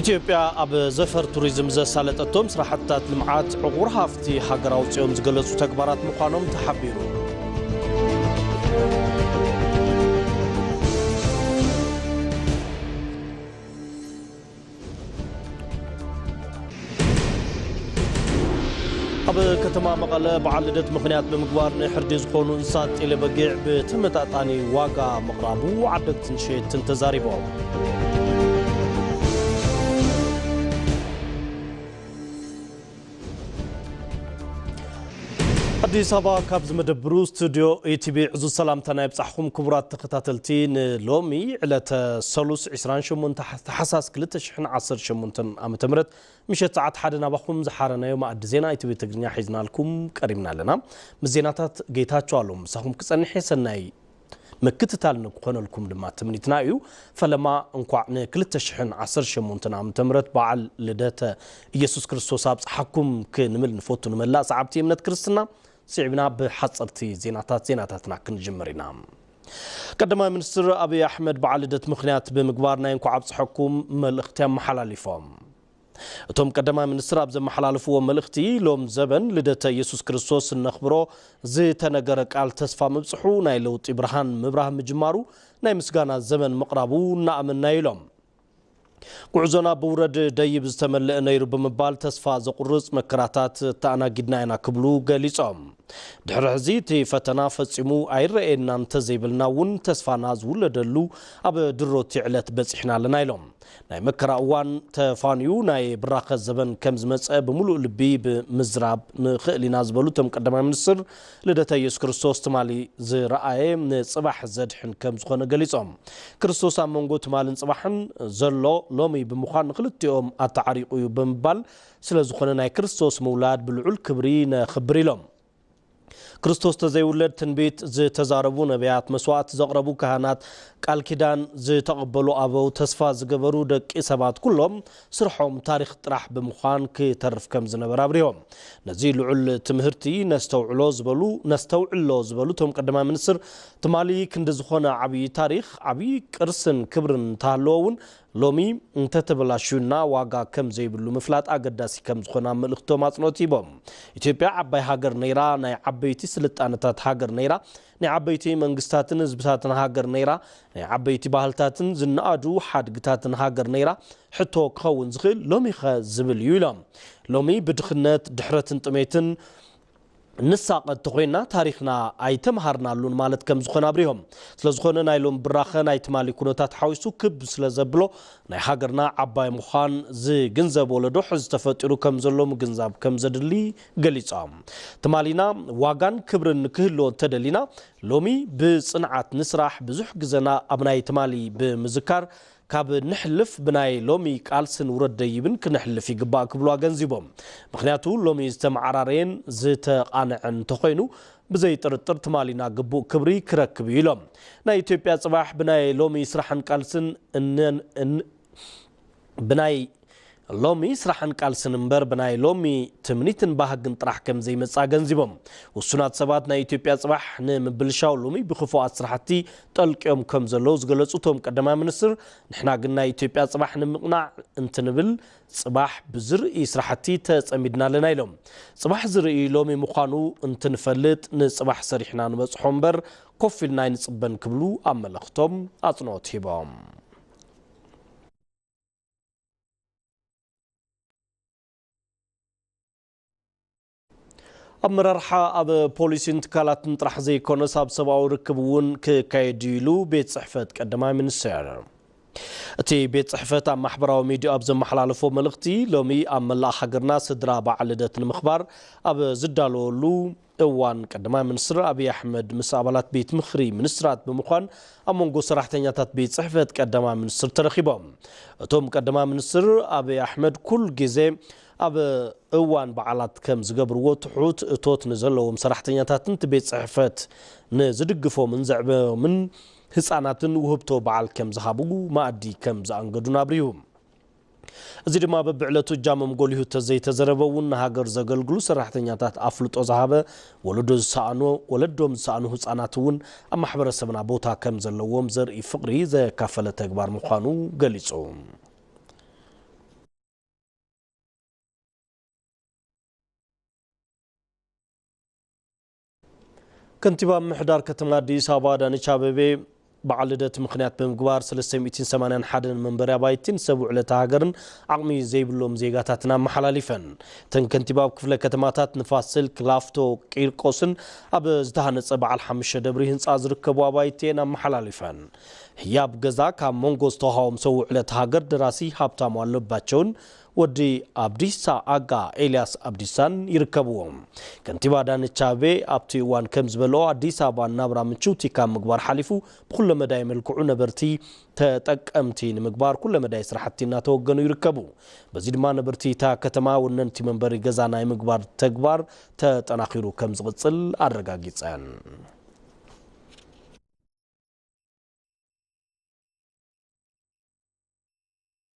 ኢትዮጵያ ኣብ ዘፈር ቱሪዝም ዘሳለጠቶም ስራሕትታት ልምዓት ዕቑር ሃፍቲ ሃገር ኣውፂኦም ዝገለፁ ተግባራት ምዃኖም ተሓቢሩ። ኣብ ከተማ መቐለ በዓል ልደት ምኽንያት ብምግባር ንሕርዲ ዝኾኑ እንስሳት ጤሌ በጊዕ ብተመጣጣኒ ዋጋ ምቕራቡ ዓደግትን ሸየጥትን ተዛሪቦም። ኣዲስ ኣበባ ካብዚ መደብሩ ስቱድዮ ኢቲቪ ዕዙዝ ሰላምታና ይብጻሕኹም ክቡራት ተኸታተልቲ ንሎሚ ዕለተ ሰሉስ 28 ታሕሳስ 2018 ዓ ም ምሸት ሰዓት ሓደ ናባኹም ዝሓረናዮ መኣዲ ዜና ኢቲቪ ትግርኛ ሒዝናልኩም ቀሪብና ኣለና ምስ ዜናታት ጌታቸው ኣሎም ምሳኹም ክጸንሐ ሰናይ ምክትታል ንክኾነልኩም ድማ ትምኒትና እዩ። ፈለማ እንኳዕ ን ክልተ ሽሕን ዓሰርተ ሸሞንተን ዓመተ ምህረት በዓል ልደተ ኢየሱስ ክርስቶስ ኣብጽሓኩም ክንብል ንፈቱ ንመላእ ሰዓብቲ እምነት ክርስትና ስዒብና ብሓጸርቲ ዜናታት ዜናታትና ክንጅምር ኢና። ቀዳማይ ሚኒስትር ኣብይ ኣሕመድ በዓል ልደት ምኽንያት ብምግባር ናይ እንኳዕ ኣብጽሐኩም መልእኽቲ ኣመሓላሊፎም። እቶም ቀዳማይ ሚኒስትር ኣብ ዘመሓላለፍዎ መልእኽቲ፣ ሎም ዘበን ልደተ የሱስ ክርስቶስ እነኽብሮ ዝተነገረ ቃል ተስፋ ምብጽሑ፣ ናይ ለውጢ ብርሃን ምብራህ ምጅማሩ፣ ናይ ምስጋና ዘበን ምቕራቡ እናኣመንና'ዩ ኢሎም። ጉዕዞና ብውረድ ደይብ ዝተመልእ ነይሩ ብምባል ተስፋ ዘቑርጽ መከራታት ተኣናጊድና ኢና ክብሉ ገሊጾም። ድሕሪ ሕዚ እቲ ፈተና ፈጺሙ ኣይረኣየናን እንተዘይበልና እውን ተስፋና ዝውለደሉ ኣብ ድሮ'ቲ ዕለት በጺሕና ኣለና ኢሎም። ናይ መከራ እዋን ተፋንዩ ናይ ብራኸ ዘበን ከም ዝመጸ ብምሉእ ልቢ ብምዝራብ ንኽእል ኢና ዝበሉ እቶም ቀዳማይ ሚኒስትር፣ ልደተ ኢየሱስ ክርስቶስ ትማሊ ዝረኣየ ንፅባሕ ዘድሕን ከም ዝኾነ ገሊፆም። ክርስቶስ ኣብ መንጎ ትማልን ፅባሕን ዘሎ ሎሚ ብምዃን ንኽልቲኦም ኣተዓሪቑ እዩ ብምባል ስለ ዝኾነ ናይ ክርስቶስ ምውላድ ብልዑል ክብሪ ነኽብር ኢሎም። ክርስቶስ ተዘይውለድ ትንቢት ዝተዛረቡ ነብያት መስዋእቲ ዘቕረቡ ካህናት ቃል ኪዳን ዝተቐበሉ ኣበው ተስፋ ዝገበሩ ደቂ ሰባት ኩሎም ስርሖም ታሪኽ ጥራሕ ብምዃን ክተርፍ ከም ዝነበረ ኣብሪሆም ነዚ ልዑል ትምህርቲ ነስተውዕሎ ዝበሉ ነስተውዕሎ ዝበሉ እቶም ቀዳማይ ሚኒስትር ትማሊ ክንዲ ዝኾነ ዓብዪ ታሪኽ ዓብዪ ቅርስን ክብርን እንተሃለወ እውን ሎሚ እንተተበላሽዩና ዋጋ ከም ዘይብሉ ምፍላጥ ኣገዳሲ ከም ዝኾነ ኣብ መልእኽቶም ኣጽንኦት ሂቦም። ኢትዮጵያ ዓባይ ሃገር ነይራ፣ ናይ ዓበይቲ ስልጣነታት ሃገር ነይራ፣ ናይ ዓበይቲ መንግስታትን ህዝብታትን ሃገር ነይራ፣ ናይ ዓበይቲ ባህልታትን ዝነኣዱ ሓድግታትን ሃገር ነይራ፣ ሕቶ ክኸውን ዝኽእል ሎሚኸ ዝብል እዩ ኢሎም። ሎሚ ብድኽነት፣ ድሕረትን ጥሜትን፣ ንሳቐ እንተኾይንና ታሪኽና ኣይተምሃርናሉን ማለት ከምዝኾነ ኣብሪሆም። ስለዝኾነ ናይ ሎሚ ብራኸ ናይ ትማሊ ኩነታት ሓዊሱ ክብ ስለዘብሎ ናይ ሃገርና ዓባይ ምዃን ዝግንዘብ ወለዶ ሕዚ ተፈጢሩ ከምዘሎ ምግንዛብ ከምዘድሊ ገሊፆም። ትማሊና ዋጋን ክብርን ንክህልዎ እንተደሊና ሎሚ ብፅንዓት ንስራሕ፣ ብዙሕ ግዘና ኣብ ናይ ትማሊ ብምዝካር ካብ ንሕልፍ ብናይ ሎሚ ቃልስን ውረድ ደይብን ክነሕልፍ ይግባእ ክብሉ ኣገንዚቦም። ምኽንያቱ ሎሚ ዝተመዓራረየን ዝተቓነዐን እንተኾይኑ ብዘይ ጥርጥር ትማሊና ግቡእ ክብሪ ክረክብ እዩ ኢሎም። ናይ ኢትዮጵያ ፅባሕ ብናይ ሎሚ ስራሕን ቃልስን እነን ብናይ ሎሚ ስራሕን ቃልስን እምበር ብናይ ሎሚ ትምኒትን ባህግን ጥራሕ ከምዘይመጽእ ኣገንዚቦም፣ ውሱናት ሰባት ናይ ኢትዮጵያ ጽባሕ ንምብልሻው ሎሚ ብክፉኣት ስራሕቲ ጠልቅዮም ከምዘለዉ ዝገለጹ እቶም ቀዳማይ ሚኒስትር፣ ንሕና ግን ናይ ኢትዮጵያ ጽባሕ ንምቕናዕ እንትንብል ጽባሕ ብዝርኢ ስራሕቲ ተጸሚድና ኣለና ኢሎም። ጽባሕ ዝርኢ ሎሚ ምዃኑ እንትንፈልጥ ንጽባሕ ሰሪሕና ንበጽሖ እምበር ኮፍ ኢልና ኣይንጽበን ክብሉ ኣብ መልእኽቶም ኣጽንኦት ሂቦም። ኣመራርሓ ኣብ ፖሊሲን ትካላትን ጥራሕ ዘይኮነስ ኣብ ሰብኣዊ ርክብ እውን ክካየድ እዩ ኢሉ ቤት ፅሕፈት ቀዳማይ ሚኒስትር። እቲ ቤት ፅሕፈት ኣብ ማሕበራዊ ሚዲያ ኣብ ዘመሓላለፎ መልእኽቲ ሎሚ ኣብ መላእ ሃገርና ስድራ በዓል ልደት ንምኽባር ኣብ ዝዳለወሉ እዋን ቀዳማይ ሚኒስትር ኣብዪ ኣሕመድ ምስ ኣባላት ቤት ምኽሪ ሚኒስትራት ብምዃን ኣብ መንጎ ሰራሕተኛታት ቤት ፅሕፈት ቀዳማይ ሚኒስትር ተረኺቦም። እቶም ቀዳማይ ሚኒስትር ኣብዪ ኣሕመድ ኩል ግዘ ኣብ እዋን በዓላት ከም ዝገብርዎ ትሑት እቶት ንዘለዎም ሰራሕተኛታትን እቲ ቤት ፅሕፈት ንዝድግፎምን ዘዕበዮምን ህፃናትን ውህብቶ በዓል ከም ዝሃቡ መኣዲ ከም ዘኣንገዱን ኣብሪሁ። እዚ ድማ በብዕለቱ እጃሞም ጎሊሁ ተዘይተዘረበ እውን ንሃገር ዘገልግሉ ሰራሕተኛታት ኣፍልጦ ዝሃበ፣ ወለዶ ዝሰኣኑ፣ ወለዶም ዝሰኣኑ ህፃናት እውን ኣብ ማሕበረሰብና ቦታ ከምዘለዎም ዘርኢ ፍቕሪ ዘካፈለ ተግባር ምዃኑ ገሊፁ። ከንቲባ ምምሕዳር ከተማ ኣዲስ ኣበባ ኣዳነች ኣቤቤ በዓል ልደት ምኽንያት ብምግባር 381 መንበሪ ኣባይቲን ሰብ ውዕለታ ሃገርን ዓቕሚ ዘይብሎም ዜጋታትን ኣመሓላሊፈን። እተን ከንቲባ ኣብ ክፍለ ከተማታት ንፋስ ስልክ፣ ላፍቶ፣ ቂርቆስን ኣብ ዝተሃነፀ በዓል ሓሙሽተ ደብሪ ህንፃ ዝርከቡ ኣባይቲ እየን ኣመሓላሊፈን። ህያብ ገዛ ካብ መንጎ ዝተውሃቦም ሰብ ውዕለታ ሃገር ደራሲ ሃብታሙ ኣለባቸውን ወዲ ኣብዲሳ ኣጋ፣ ኤልያስ ኣብዲሳን ይርከብዎም። ከንቲባ ኣዳነች ኣቤቤ ኣብቲ እዋን ከምዝበልኦ፣ ኣዲስ ኣበባ ንናብራ ምችውቲ ካብ ምግባር ሓሊፉ ብኩለመዳይ መልክዑ ነበርቲ ተጠቀምቲ ንምግባር ኩለመዳይ ስራሕቲ እናተወገኑ ይርከቡ። በዚ ድማ ነበርቲ እታ ከተማ ወነንቲ መንበሪ ገዛ ናይ ምግባር ተግባር ተጠናኺሩ ከምዝቕፅል ኣረጋጊፀን።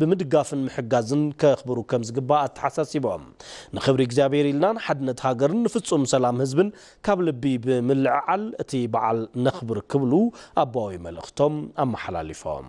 ብምድጋፍን ምሕጋዝን ከኽብሩ ከም ዝግባእ ኣተሓሳሲቦም፣ ንኽብሪ እግዚኣብሔር ኢልና ንሓድነት ሃገርን ንፍፁም ሰላም ህዝብን ካብ ልቢ ብምልዕዓል እቲ በዓል ነኽብር ክብሉ ኣቦዊ መልእኽቶም ኣመሓላሊፎም።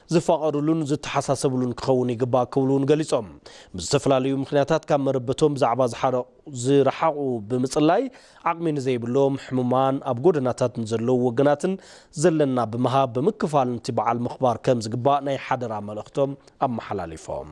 ዝፋቐሩሉን ዝተሓሳሰብሉን ክኸውን ይግባእ ክብሉ እውን ገሊፆም። ብዝተፈላለዩ ምኽንያታት ካብ መረበቶም ብዛዕባ ዝረሓቑ ብምፅላይ ዓቕሚ ንዘይብሎም፣ ሕሙማን፣ ኣብ ጎደናታት ንዘለዉ ወገናትን ዘለና ብምሃብ ብምክፋል ንቲ በዓል ምኽባር ከምዝግባእ ናይ ሓደራ መልእኽቶም ኣመሓላሊፎም።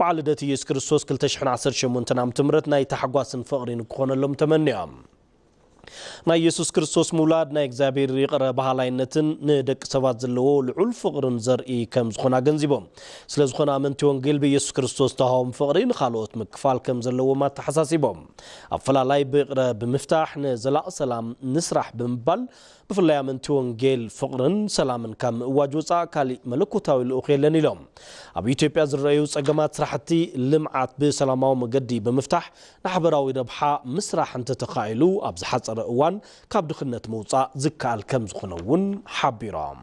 በዓል ልደት ኢየሱስ ክርስቶስ ክልተ ሽሕን ዓሰርተ ሸሞንተን ዓመተ ምህረት ናይ ታሕጓስን ፍቕሪን ክኾነሎም ተመንያ። ናይ ኢየሱስ ክርስቶስ ምውላድ ናይ እግዚኣብሔር ይቕረ በሃላይነትን ንደቂ ሰባት ዘለዎ ልዑል ፍቕርን ዘርኢ ከም ዝኾነ ኣገንዚቦም። ስለ ዝኾነ ኣመንቲ ወንጌል ብኢየሱስ ክርስቶስ ዝተውሃቦም ፍቕሪ ንኻልኦት ምክፋል ከም ዘለዎም ኣተሓሳሲቦም። ኣፈላላይ ብይቕረ ብምፍታሕ ንዘላቒ ሰላም ንስራሕ ብምባል ብፍላይ ኣመንቲ ወንጌል ፍቕርን ሰላምን ካብ ምእዋጅ ወፃእ ካሊእ መለኮታዊ ልኡኽ የለን ኢሎም። ኣብ ኢትዮጵያ ዝረኣዩ ፀገማት ስራሕቲ ልምዓት ብሰላማዊ መገዲ ብምፍታሕ ንሓበራዊ ረብሓ ምስራሕ እንተተኻኢሉ ኣብ ዝሓፀረ እዋን ካብ ድኽነት ምውፃእ ዝከኣል ከምዝኾነ እውን ሓቢሮም።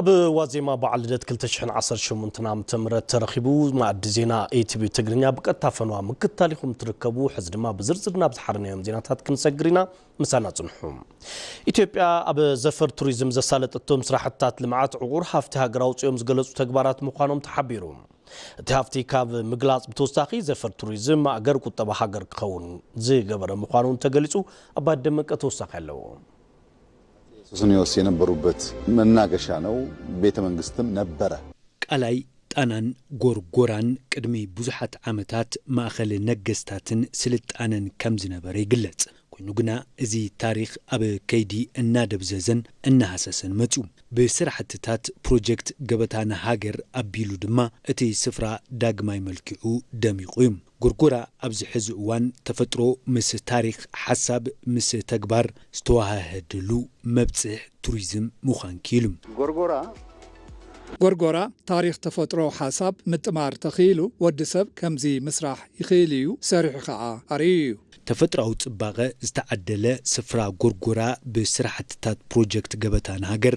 ኣብ ዋዜማ በዓል ልደት ክልተ ሽሕን ዓሰርተ ሸሞንተን ዓመተ ምህረት ተረኺቡ መኣዲ ዜና ኤቲቪ ትግርኛ ብቀጥታ ፈነዋ ምክትታል ኢኹም ትርከቡ። ሕዚ ድማ ብዝርዝር ናብ ዝሓረናዮም ዜናታት ክንሰግር ኢና። ምሳና ጽንሑ። ኢትዮጵያ ኣብ ዘፈር ቱሪዝም ዘሳለጠቶም ስራሕትታት ልምዓት ዕቑር ሃፍቲ ሃገር ኣውፂኦም ዝገለፁ ተግባራት ምዃኖም ተሓቢሩ። እቲ ሃፍቲ ካብ ምግላፅ ብተወሳኺ ዘፈር ቱሪዝም ማእገር ቁጠባ ሃገር ክኸውን ዝገበረ ምዃኑ እውን ተገሊፁ። ኣባይ ደመቀ ተወሳኺ ኣለዎ። ሱስንዮስ የነበሩበት መናገሻ ነው፣ ቤተ መንግስትም ነበረ። ቃላይ ጣናን ጎርጎራን ቅድሚ ብዙሓት ዓመታት ማእኸል ነገስታትን ስልጣነን ከም ዝነበረ ይግለፅ። ኮይኑ ግና እዚ ታሪኽ ኣብ ከይዲ እናደብዘዘን እናሃሰሰን መፂኡ። ብስራሕትታት ፕሮጀክት ገበታ ንሃገር ኣቢሉ ድማ እቲ ስፍራ ዳግማይ መልኪዑ ደሚቑ እዩ። ጎርጎራ ኣብዚ ሕዚ እዋን ተፈጥሮ ምስ ታሪኽ፣ ሓሳብ ምስ ተግባር ዝተወሃሀደሉ መብፅሕ ቱሪዝም ምዃን ክኢሉ። ጎርጎራ። ጎርጎራ ታሪኽ ተፈጥሮ ሓሳብ ምጥማር ተኽኢሉ ወዲ ሰብ ከምዚ ምስራሕ ይኽእል ኢዩ ሰሪሑ ከዓ ኣርእዩ ኢዩ። ተፈጥራዊ ፅባቐ ዝተዓደለ ስፍራ ጎርጎራ ብስራሕትታት ፕሮጀክት ገበታ ንሃገር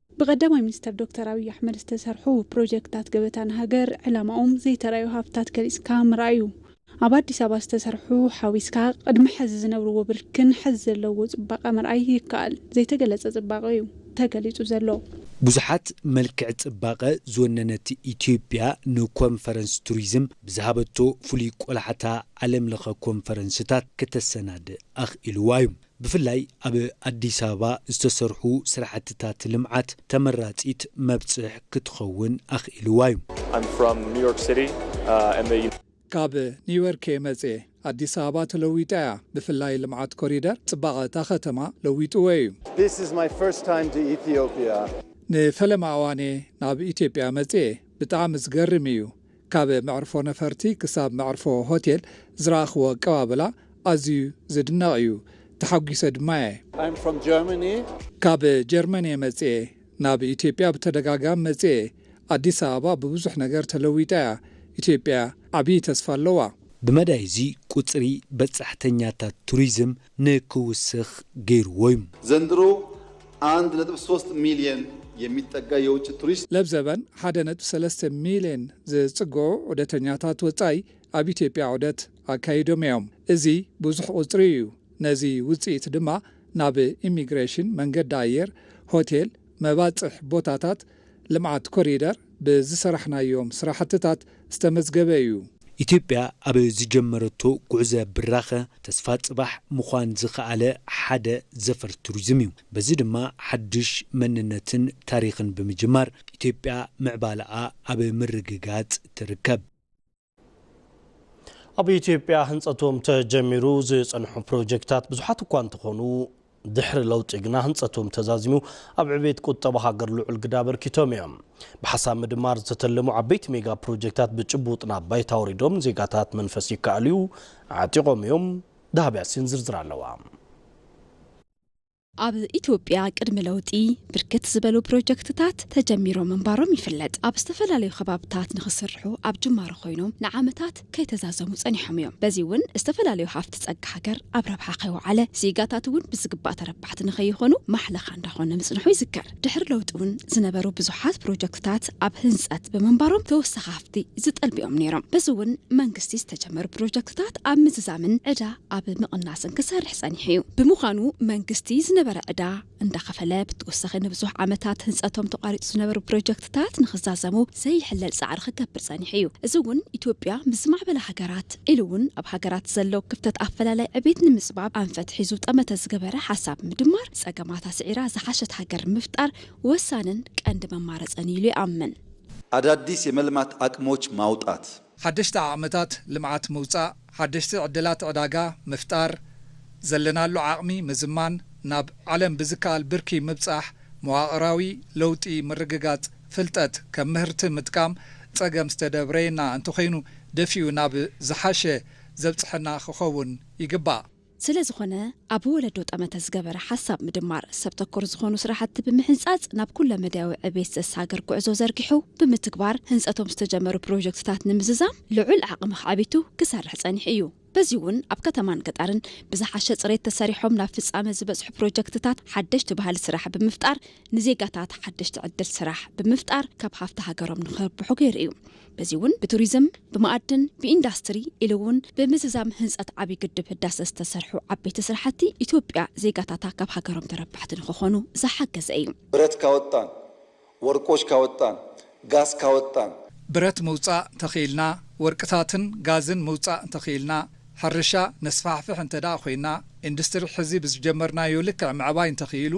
ብቀዳማይ ሚኒስተር ዶክተር ኣብይ ኣሕመድ ዝተሰርሑ ፕሮጀክትታት ገበታ ንሃገር ዕላማኦም ዘይተራእዩ ሃፍትታት ገሊፅካ ምርኣይ እዩ። ኣብ ኣዲስ ኣበባ ዝተሰርሑ ሓዊስካ ቅድሚ ሐዚ ዝነብርዎ ብርኪን ሐዚ ዘለውዎ ፅባቐ ምርኣይ ይከኣል። ዘይተገለፀ ፅባቐ እዩ ተገሊፁ ዘሎ። ብዙሓት መልክዕ ፅባቐ ዝወነነት ኢትዮጵያ ንኮንፈረንስ ቱሪዝም ብዝሃበቶ ፍሉይ ቆላሕታ ዓለም ለኸ ኮንፈረንስታት ክተሰናድእ ኣኽኢልዋ እዩ። ብፍላይ ኣብ ኣዲስ ኣበባ ዝተሰርሑ ስራሕትታት ልምዓት ተመራፂት መብፅሕ ክትኸውን ኣኽኢልዋ ዩ። I'm from New York City and the. ካብ ኒውዮርክ'የ መጽየ። ኣዲስ ኣበባ ተለዊጣ እያ፣ ብፍላይ ልምዓት ኮሪደር ጽባቐ እታ ከተማ ለዊጥዎ እዩ። This is my first time to Ethiopia. ንፈለማ እዋን'የ ናብ ኢትዮጵያ መጽየ፣ ብጣዕሚ ዝገርም እዩ፣ ካብ መዕርፎ ነፈርቲ ክሳብ መዕርፎ ሆቴል ዝረኣኽዎ ኣቀባብላ ኣዝዩ ዝድነቕ እዩ። ተሓጒሰ ድማ እየ። I'm from Germany. ካብ ጀርመን እየ መጽየ። ናብ ኢትዮጵያ ብተደጋጋሚ መጽየ እየ። ኣዲስ ኣበባ ብብዙሕ ነገር ተለዊጣ እያ። ኢትዮጵያ ዓብዪ ተስፋ ኣለዋ። ብመዳይ እዚ ቁጽሪ በጻሕተኛታት ቱሪዝም ንክውስኽ ገይሩዎ'ዩ። ዘንድሮ ኣንድ ነጥቢ ሶስት ሚልየን የሚጠጋ የውጭ ቱሪስት። ለብዘበን ሓደ ነጥቢ ሰለስተ ሚልየን ዝጽግዑ ዑደተኛታት ወጻኢ ኣብ ኢትዮጵያ ዑደት ኣካይዶም'ዮም። እዚ ብዙሕ ቁጽሪ'ዩ። ነዚ ውጽኢት ድማ ናብ ኢሚግሬሽን፣ መንገዲ ኣየር፣ ሆቴል፣ መባጽሕ ቦታታት፣ ልምዓት ኮሪደር ብዝሰራሕናዮም ስራሕትታት ዝተመዝገበ እዩ። ኢትዮጵያ ኣብ ዝጀመረቶ ጉዕዘ ብራኸ ተስፋ ፅባሕ ምዃን ዝኸኣለ ሓደ ዘፈር ቱሪዝም እዩ። በዚ ድማ ሓዱሽ መንነትን ታሪኽን ብምጅማር ኢትዮጵያ ምዕባለኣ ኣብ ምርግጋፅ ትርከብ። ኣብ ኢትዮጵያ ህንፀቶም ተጀሚሩ ዝፀንሑ ፕሮጀክታት ብዙሓት እኳ እንተኾኑ ድሕሪ ለውጢ ግና ህንፀቶም ተዛዚሙ ኣብ ዕቤት ቁጠባ ሃገር ልዑል ግዳ ኣበርኪቶም እዮም። ብሓሳብ ምድማር ዝተተለሙ ዓበይቲ ሜጋ ፕሮጀክታት ብጭቡጥ ናብ ባይታ ወሪዶም ዜጋታት መንፈስ ይከኣልዩ ዓጢቖም እዮም። ዳህብ ያሲን ዝርዝር ኣለዋ። ኣብ ኢትዮጵያ ቅድሚ ለውጢ ብርክት ዝበሉ ፕሮጀክትታት ተጀሚሮም ምንባሮም ይፍለጥ። ኣብ ዝተፈላለዩ ከባብታት ንክስርሑ ኣብ ጅማሮ ኮይኖም ንዓመታት ከይተዛዘሙ ፀኒሖም እዮም። በዚ እውን ዝተፈላለዩ ሃፍቲ ፀጋ ሃገር ኣብ ረብሓ ከይወዓለ ዜጋታት እውን ብዝግባእ ተረባሕቲ ንከይኾኑ ማሕለኻ እንዳኾነ ምፅንሑ ይዝከር። ድሕሪ ለውጢ እውን ዝነበሩ ብዙሓት ፕሮጀክትታት ኣብ ህንፀት ብምንባሮም ተወሳኺ ሃፍቲ ዝጠልብዮም ነይሮም። በዚ እውን መንግስቲ ዝተጀመሩ ፕሮጀክትታት ኣብ ምዝዛምን ዕዳ ኣብ ምቕናስን ክሰርሕ ፀኒሑ እዩ። ብምዃኑ መንግስቲ ዝነበረ ዕዳ እንዳኸፈለ ብተወሳኺ ንብዙሕ ዓመታት ህንፀቶም ተቋሪፁ ዝነበሩ ፕሮጀክትታት ታት ንኽዛዘሙ ዘይሕለል ጻዕሪ ክገብር ጸኒሑ እዩ። እዚ እውን ኢትዮጵያ ምስ ዝማዕበላ ሃገራት ኢሉ እውን ኣብ ሃገራት ዘሎ ክፍተት ኣፈላላይ ዕቤት ንምጽባብ ኣንፈት ሒዙ ጠመተ ዝገበረ ሓሳብ ምድማር ጸገማታ ስዒራ ዝሓሸት ሃገር ምፍጣር ወሳንን ቀንዲ መማረጽን እዩ ኢሉ ይኣምን። ኣዳዲስ የመልማት ኣቅሞች ማውጣት። ሓደሽቲ ዓቕምታት ልምዓት ምውፃእ፣ ሓደሽቲ ዕድላት ዕዳጋ ምፍጣር፣ ዘለናሉ ዓቕሚ ምዝማን፣ ናብ ዓለም ብዝከኣል ብርኪ ምብፃሕ፣ መዋቕራዊ ለውጢ ምርግጋፅ፣ ፍልጠት ከም ምህርቲ ምጥቃም ፀገም ዝተደብረየና እንተኾይኑ ደፊኡ ናብ ዝሓሸ ዘብፅሐና ክኸውን ይግባእ። ስለ ዝኾነ ኣብ ወለዶ ጠመተ ዝገበረ ሓሳብ ምድማር፣ ሰብ ተኮር ዝኾኑ ስራሕቲ ብምሕንፃፅ ናብ ኩለ መዳያዊ ዕቤት ዘሳግር ጉዕዞ ዘርጊሑ ብምትግባር ህንፀቶም ዝተጀመሩ ፕሮጀክትታት ንምዝዛም ልዑል ዓቕሚ ኣኻዕቢቱ ክሰርሕ ፀኒሑ እዩ። በዚ እውን ኣብ ከተማን ገጣርን ብዝሓሸ ፅሬት ተሰሪሖም ናብ ፍፃመ ዝበፅሑ ፕሮጀክትታት ሓደሽቲ ባህሊ ስራሕ ብምፍጣር ንዜጋታት ሓደሽቲ ዕድል ስራሕ ብምፍጣር ካብ ሃፍቲ ሃገሮም ንክርብሑ ገይሩ እዩ። በዚ እውን ብቱሪዝም፣ ብማኣድን፣ ብኢንዳስትሪ ኢሉ እውን ብምዝዛም ህንፀት ዓብዪ ግድብ ህዳሰ ዝተሰርሑ ዓበይቲ ስራሕቲ ኢትዮጵያ ዜጋታታ ካብ ሃገሮም ተረባሕቲ ንክኾኑ ዝሓገዘ እዩ። ብረት ካወጣን፣ ወርቆች ካወጣን፣ ጋዝ ካወጣን። ብረት ምውፃእ ተኽኢልና፣ ወርቅታትን ጋዝን ምውፃእ እንተኽኢልና፣ ሕርሻ ነስፋሕፍሕ እንተድኣ ኮይና፣ ኢንዱስትሪ ሕዚ ብዝጀመርናዮ ልክዕ ምዕባይ እንተኽኢሉ፣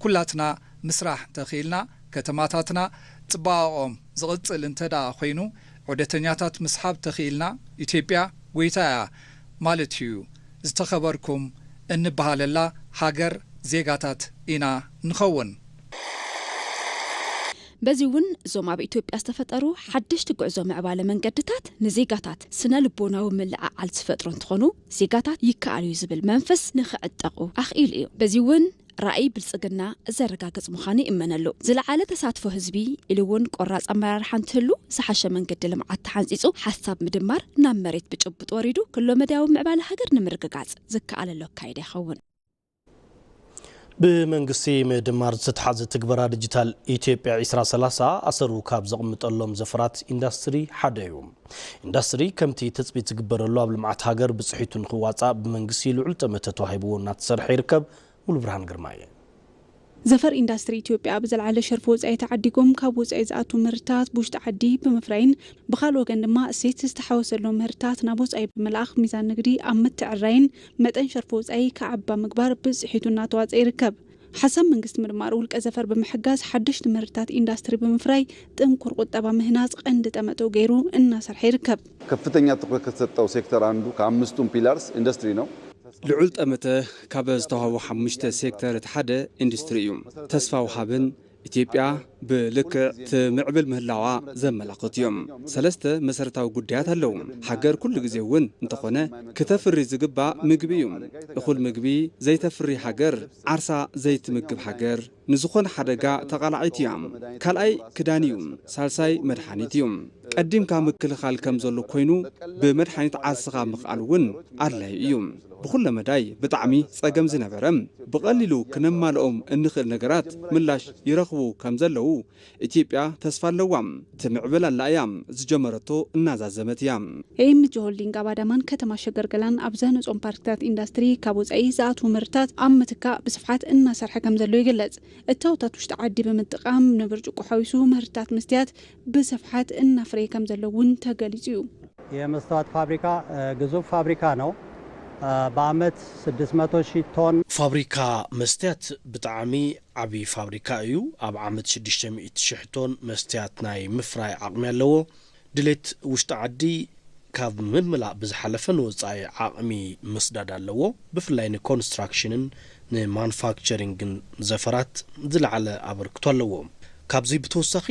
ኩላትና ምስራሕ እንተኽኢልና፣ ከተማታትና ጽባቐኦም ዝቕጽል እንተድኣ ኮይኑ ዑደተኛታት ምስሓብ ተኽኢልና ኢትዮጵያ ጎይታ እያ ማለት እዩ። ዝተኸበርኩም እንብሃለላ ሃገር ዜጋታት ኢና ንኸውን። በዚ እውን እዞም ኣብ ኢትዮጵያ ዝተፈጠሩ ሓደሽቲ ጉዕዞ ምዕባለ መንገድታት ንዜጋታት ስነ ልቦናዊ ምልዕዓል ዝፈጥሩ እንትኾኑ ዜጋታት ይከኣል እዩ ዝብል መንፈስ ንክዕጠቑ ኣኽኢሉ እዩ። በዚ እውን ራእይ ብልፅግና ዘረጋግፅ ምዃኑ ይእመነሉ። ዝለዓለ ተሳትፎ ህዝቢ ኢሉ እውን ቆራፅ ኣመራርሓ እንትህሉ ዝሓሸ መንገዲ ልምዓት ተሓንፂፁ ሓሳብ ምድማር ናብ መሬት ብጭቡጥ ወሪዱ ክሎመዳያዊ ምዕባለ ሃገር ንምርግጋፅ ዝከኣለሉ ኣካይዳ ይኸውን። ብመንግስቲ ምድማር ዝተትሓዘ ትግበራ ዲጂታል ኢትዮጵያ ዒስራ ሰላሳ ኣሰሩ ካብ ዘቕምጠሎም ዘፈራት ኢንዳስትሪ ሓደ እዩ። ኢንዳስትሪ ከምቲ ትፅቢት ዝግበረሉ ኣብ ልምዓት ሃገር ብፅሒቱ ንክዋፃእ ብመንግስቲ ልዑል ጠመተ ተዋሂብዎ እናተሰርሐ ይርከብ። ሙሉብርሃን ግርማይ እየ። ዘፈር ኢንዳስትሪ ኢትዮጵያ ብዘልዓለ ሸርፊ ወፃኢ ተዓዲጎም ካብ ወፃኢ ዝኣትው ምህርትታት ብውሽጢ ዓዲ ብምፍራይን ብኻልእ ወገን ድማ እሴት ዝተሓወሰሎም ምህርትታት ናብ ወፃኢ ብምልኣኽ ሚዛን ንግዲ ኣብ ምትዕርራይን መጠን ሸርፊ ወፃኢ ክዓቢ ኣብ ምግባር ብፅሒቱ እናተዋፀ ይርከብ። ሓሳብ መንግስቲ ምድማር ውልቀ ዘፈር ብምሕጋዝ ሓደሽቲ ምህርትታት ኢንዳስትሪ ብምፍራይ ጥንኩር ቁጠባ ምህናፅ ቐንዲ ጠመተኡ ገይሩ እናሰርሐ ይርከብ። ከፍተኛ ትኩረት ከተሰጠው ሴክተር ኣንዱ ከኣምስቱም ፒላርስ ኢንዱስትሪ ነው። ልዑል ጠመተ ካብ ዝተውሃቡ ሓሙሽተ ሴክተር እቲ ሓደ ኢንዱስትሪ እዩ። ተስፋ ወሃብን ኢትዮጵያ ብልክዕ ትምዕብል ምህላዋ ዘመላኽቱ እዮም። ሰለስተ መሰረታዊ ጉዳያት ኣለዉ። ሃገር ኩሉ ግዜ እውን እንተኾነ ክተፍሪ ዝግባእ ምግቢ እዩ። እኹል ምግቢ ዘይተፍሪ ሃገር ዓርሳ ዘይትምግብ ሃገር ንዝኾነ ሓደጋ ተቓላዒት እያ። ካልኣይ ክዳን እዩ። ሳልሳይ መድሓኒት እዩ። ቀዲምካ ምክልኻል ከም ዘሎ ኮይኑ ብመድሓኒት ዓርስኻ ምኽኣል እውን ኣድላዩ እዩ። ብኹለ መዳይ ብጣዕሚ ፀገም ዝነበረ ብቐሊሉ ክነማልኦም እንኽእል ነገራት ምላሽ ይረኽቡ ከም ዘለዉ ኢትዮጵያ ተስፋ ኣለዋ ትምዕብል ኣላ እያ ዝጀመረቶ እናዛዘመት እያ። ኤንጂ ሆልዲንግ ኣብ ኣዳማን ከተማ ሸገር ገላን ኣብ ዘህነፆም ፓርክታት ኢንዳስትሪ ካብ ወፃኢ ዝኣትዉ ምህርትታት ኣብ ምትካእ ብስፍሓት እናሰርሐ ከምዘሎ ይግለፅ። እታወታት ውሽጢ ዓዲ ብምጥቃም ንብርጭቆ ሓዊሱ ምህርትታት መስትያት ብስፍሓት እናፍረየ ከምዘሎ እውን ተገሊፁ እዩ። የመስተዋት ፋብሪካ ግዙፍ ፋብሪካ ነው በኣመት ስድስት መቶ ሺህ ቶን። ፋብሪካ መስትያት ብጣዕሚ ዓብዪ ፋብሪካ እዩ። ኣብ ዓመት ሽዱሽተ ሚእቲ ሽሕ ቶን መስትያት ናይ ምፍራይ ዓቕሚ ኣለዎ። ድሌት ውሽጢ ዓዲ ካብ ምምላእ ብዝሓለፈ ንወፃኢ ዓቕሚ ምስዳድ ኣለዎ። ብፍላይ ንኮንስትራክሽንን ንማኑፋክቸሪንግን ዘፈራት ዝለዓለ ኣበርክቶ ኣለዎ። ካብዚ ብተወሳኺ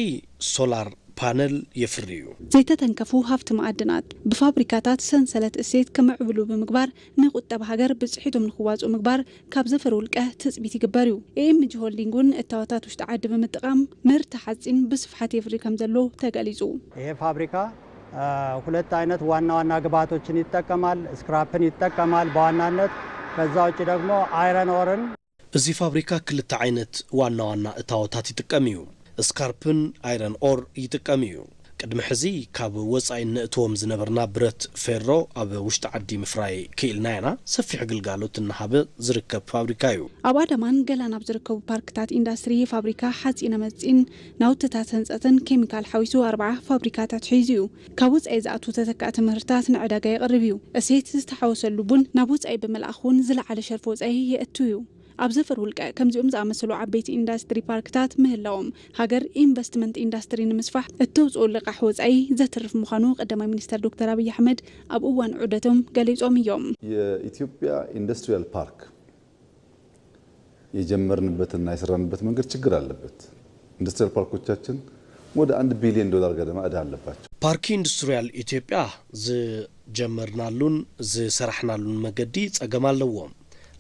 ሶላር ፓነል የፍሪ እዩ። ዘይተተንከፉ ሃፍቲ መኣድናት ብፋብሪካታት ሰንሰለት እሴት ክምዕብሉ ብምግባር ንቁጠባ ሃገር ብፅሒቶም ንክዋፅኡ ምግባር ካብ ዘፈር ውልቀ ትፅቢት ይግበር እዩ። ኤኤምጂ ሆልዲንግ እውን እታወታት ውሽጢ ዓዲ ብምጥቓም ምህርቲ ሓፂን ብስፍሓት የፍሪ ከምዘሎ ተገሊፁ። ይሄ ፋብሪካ ሁለት አይነት ዋና ዋና ግብአቶችን ይጠቀማል ስክራፕን ይጠቀማል በዋናነት ከዛ ውጪ ደግሞ አይረን ኦርን። እዚ ፋብሪካ ክልተ ዓይነት ዋና ዋና እታዎታት ይጥቀም እዩ። ስካርፕን ኣይረን ኦር ይጥቀም እዩ። ቅድሚ ሕዚ ካብ ወፃኢ እነእትዎም ዝነበርና ብረት ፌሮ ኣብ ውሽጢ ዓዲ ምፍራይ ክኢልና ኢና። ሰፊሕ ግልጋሎት እናሃበ ዝርከብ ፋብሪካ እዩ። ኣብ ኣዳማን ገላን ኣብ ዝርከቡ ፓርክታት ኢንዳስትሪ ፋብሪካ ሓፂነ መፂን፣ ናውቲታት ህንፀትን ኬሚካል ሓዊሱ ኣርብዓ ፋብሪካታት ሒዙ እዩ። ካብ ወጻኢ ዝኣትዉ ተተካእቲ ምህርትታት ንዕዳጋ የቕርብ እዩ። እሴት ዝተሓወሰሉ ቡን ናብ ወጻኢ ብምልኣኽ እውን ዝለዓለ ሸርፊ ወጻኢ የእቱ እዩ። ኣብ ዘፈር ውልቀ ከምዚኦም ዝኣመሰሉ ዓበይቲ ኢንዳስትሪ ፓርክታት ምህላዎም ሃገር ኢንቨስትመንት ኢንዳስትሪ ንምስፋሕ እተውጽኦ ልቓሕ ወጻኢ ዘትርፍ ምዃኑ ቀዳማይ ሚኒስተር ዶክተር ኣብይ ኣሕመድ ኣብ እዋን ዑደቶም ገሊጾም እዮም። የኢትዮጵያ ኢንደስትሪያል ፓርክ የጀመርንበትና የሰራንበት መንገድ ችግር ኣለበት። ኢንዱስትሪያል ፓርኮቻችን ወደ አንድ ቢሊየን ዶላር ገደማ እዳ ኣለባቸው። ፓርኪ ኢንዱስትሪያል ኢትዮጵያ ዝጀመርናሉን ዝሰራሕናሉን መገዲ ፀገም ኣለዎ።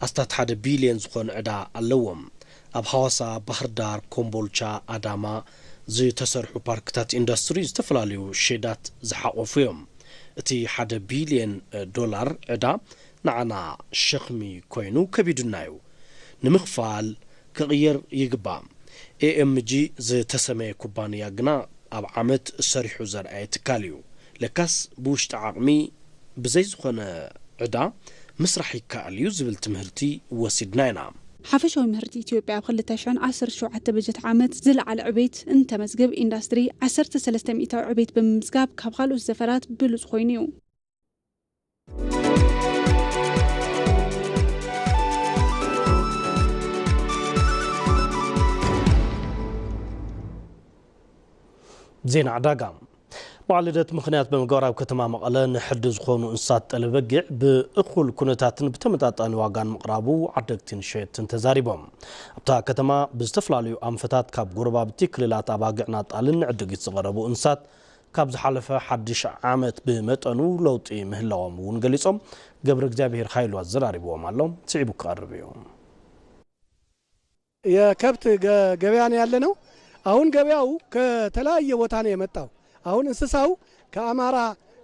ኣስታት ሓደ ቢሊየን ዝኾን ዕዳ ኣለዎም። ኣብ ሃዋሳ፣ ባህርዳር፣ ኮምቦልቻ፣ ኣዳማ ዝተሰርሑ ፓርክታት ኢንዳስትሪ ዝተፈላለዩ ሼዳት ዝሓቖፉ ዮም። እቲ ሓደ ቢሊየን ዶላር ዕዳ ንዓና ሸኽሚ ኮይኑ ከቢዱና ዩ ንምኽፋል ክቕየር ይግባእ። AMG ዝተሰመየ ኩባንያ ግና ኣብ ዓመት ሰሪሑ ዘርኣየ ትካል ዩ። ለካስ ብውሽጢ ዓቕሚ ብዘይ ዝኾነ ዕዳ ምስራሕ ይከኣል ዩ ዝብል ትምህርቲ ወሲድና ኢና። ሓፈሻዊ ምህርቲ ኢትዮጵያ ኣብ ክልተ ሽሕን ዓሰርተ ሸውዓተ በጀት ዓመት ዝለዓለ ዕቤት እንተመዝግብ ኢንዳስትሪ ዓሰርተ ሰለስተ ሚኢታዊ ዕቤት ብምምዝጋብ ካብ ካልኦት ዘፈራት ብሉፅ ኮይኑ ዩ። ዜና ዕዳጋ በዓል ልደት ምክንያት ብምግባር ኣብ ከተማ መቐለ ንሕዲ ዝኾኑ እንስሳት ጠለ በጊዕ ብእኹል ኩነታትን ብተመጣጣኒ ዋጋን ምቕራቡ ዓደግትን ሸየጥትን ተዛሪቦም ኣብታ ከተማ ብዝተፈላለዩ ኣንፈታት ካብ ጎረባብቲ ክልላት ኣባግዕና ጣልን ንዕድጊት ዝቐረቡ እንስሳት ካብ ዝሓለፈ ሓድሽ ዓመት ብመጠኑ ለውጢ ምህላዎም እውን ገሊፆም። ገብረእግዚኣብሄር ሃይሉ ኣዘራሪብዎም ኣሎ፣ ስዒቡ ክቐርብ እዩ። የከብት ገበያ ነው ያለነው አሁን ገበያው ከተለያየ ቦታ ነው የመጣው አሁን እንስሳው ከአማራ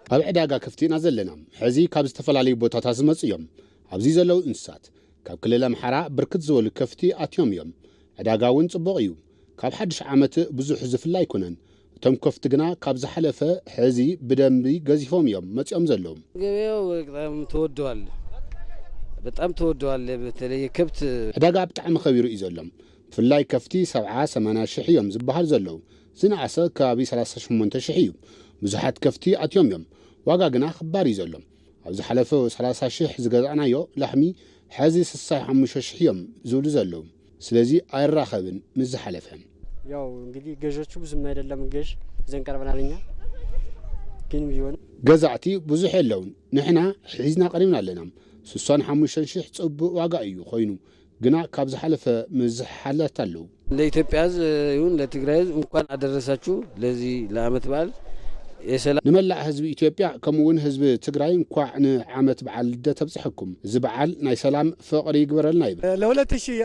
ኣብ ዕዳጋ ከፍቲ ኢና ዘለና። ሕዚ ካብ ዝተፈላለዩ ቦታታት ዝመፁ እዮም። ኣብዚ ዘለዉ እንስሳት ካብ ክልል ኣምሓራ ብርክት ዝበሉ ከፍቲ ኣትዮም እዮም። ዕዳጋ እውን ፅቡቕ እዩ። ካብ ሓድሽ ዓመት ብዙሕ ዝፍለ ኣይኮነን እቶም ከፍቲ ግና ካብ ዝሓለፈ ሕዚ ብደንቢ ገዚፎም እዮም መጺኦም ዘለዉ። ገበያው በጣም ተወደዋል በጣም ተወደዋል በተለይ ከብት። ዕዳጋ ብጣዕሚ ከቢሩ እዩ ዘሎ ብፍላይ ከፍቲ ሰብዓ ሰማንያ ሽሕ እዮም ዝብሃል ዘለዉ ዝነኣሰ ከባቢ ሰላሳ ሸሞንተ ሽሕ እዩ ብዙሓት ከፍቲ ኣትዮም እዮም ዋጋ ግና ክባር እዩ ዘሎ ኣብ ዝሓለፈ ሰላሳ ሽሕ ዝገዛእናዮ ላሕሚ ሐዚ ስሳይ ሓሙሽተ ሽሕ እዮም ዝብሉ ዘለዉ ስለዚ ኣይራኸብን ምስ ዝሓለፈ። ያው እንግዲህ ገዦቹ ብዙም አይደለም ገዥ ዘን ቀርበናል እኛ ግን ቢሆንም ገዛእቲ ብዙሕ የለውን ንሕና ሒዝና ቀሪብና ኣለና ስሳን ሓሙሽተን ሽሕ ጽቡቅ ዋጋ እዩ ኮይኑ ግና ካብ ዝሓለፈ ምዝሕሓላት ኣለው። ለኢትዮጵያ ህዝብ ይሁን ለትግራይ ህዝብ እንኳን አደረሳችሁ ለዚህ ለዓመት በዓል የሰላም። ንመላእ ህዝቢ ኢትዮጵያ ከምኡውን ህዝቢ ትግራይ እንኳዕ ንዓመት በዓል ልደት ኣብፀሐኩም። እዚ በዓል ናይ ሰላም፣ ፍቕሪ ይግበረልና ይብል። ለ ሁለት ሺህ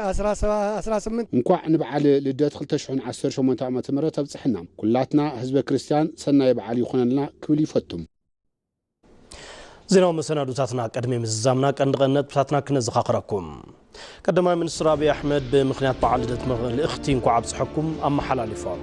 ኣስራ ስምንት። እንኳዕ ንብዓል ልደት ክልተ ሽሕን ዓሰርተ ሸሞንተ ዓመተ ምህረት ኣብፀሐና ኩላትና ህዝበ ክርስትያን ሰናይ ብዓል ይኹነልና ክብል ይፈቱ። ዜናዊ መሰናዱታትና ቅድሚ ምዝዛምና ቀንዲ ቀንዲ ነጥብታትና ክነዘኻኽረኩም። ቀዳማይ ሚኒስትር ኣብይ ኣሕመድ ብምኽንያት በዓል ልደት መልእኽቲ እንኳዕ ኣብፀሐኩም ኣመሓላሊፎም።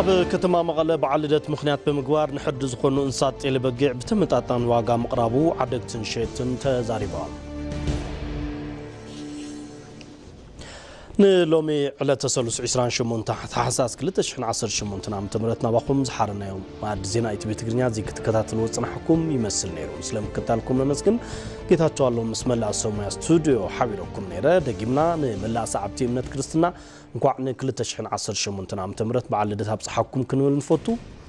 ኣብ ከተማ መቐለ በዓል ልደት ምክንያት ብምግባር ንሕርዲ ዝኾኑ እንስሳት ጤለ በጊዕ ብተመጣጣኒ ዋጋ ምቕራቡ ዓደግትን ሸየጥትን ተዛሪቦም። ንሎሚ ዕለተ ሰሉስ ዕስራን ሸሞንተ ታሕሳስ ክልተ ሽሕን ዓሰርተ ሸሞንተን ዓመተ ምህረት ናባኹም ዝሓረናዮ መኣዲ ዜና ኢቲቪ ትግርኛ እዚ ክትከታተልዎ ዝጸናሕኩም ይመስል ነይሩ። ስለ ምክታልኩም ነመስግን። ጌታቸው ኣሎም ምስ መላእ ሰብ ሞያ ስቱድዮ ሓቢረኩም ነይረ። ደጊምና ንመላእ ሰዓብቲ እምነት ክርስትና እንኳዕ ን ክልተ ሽሕን ዓሰርተ ሸሞንተን ዓመተ ምህረት በዓል ልደት ኣብጽሓኩም ክንብል ንፈቱ።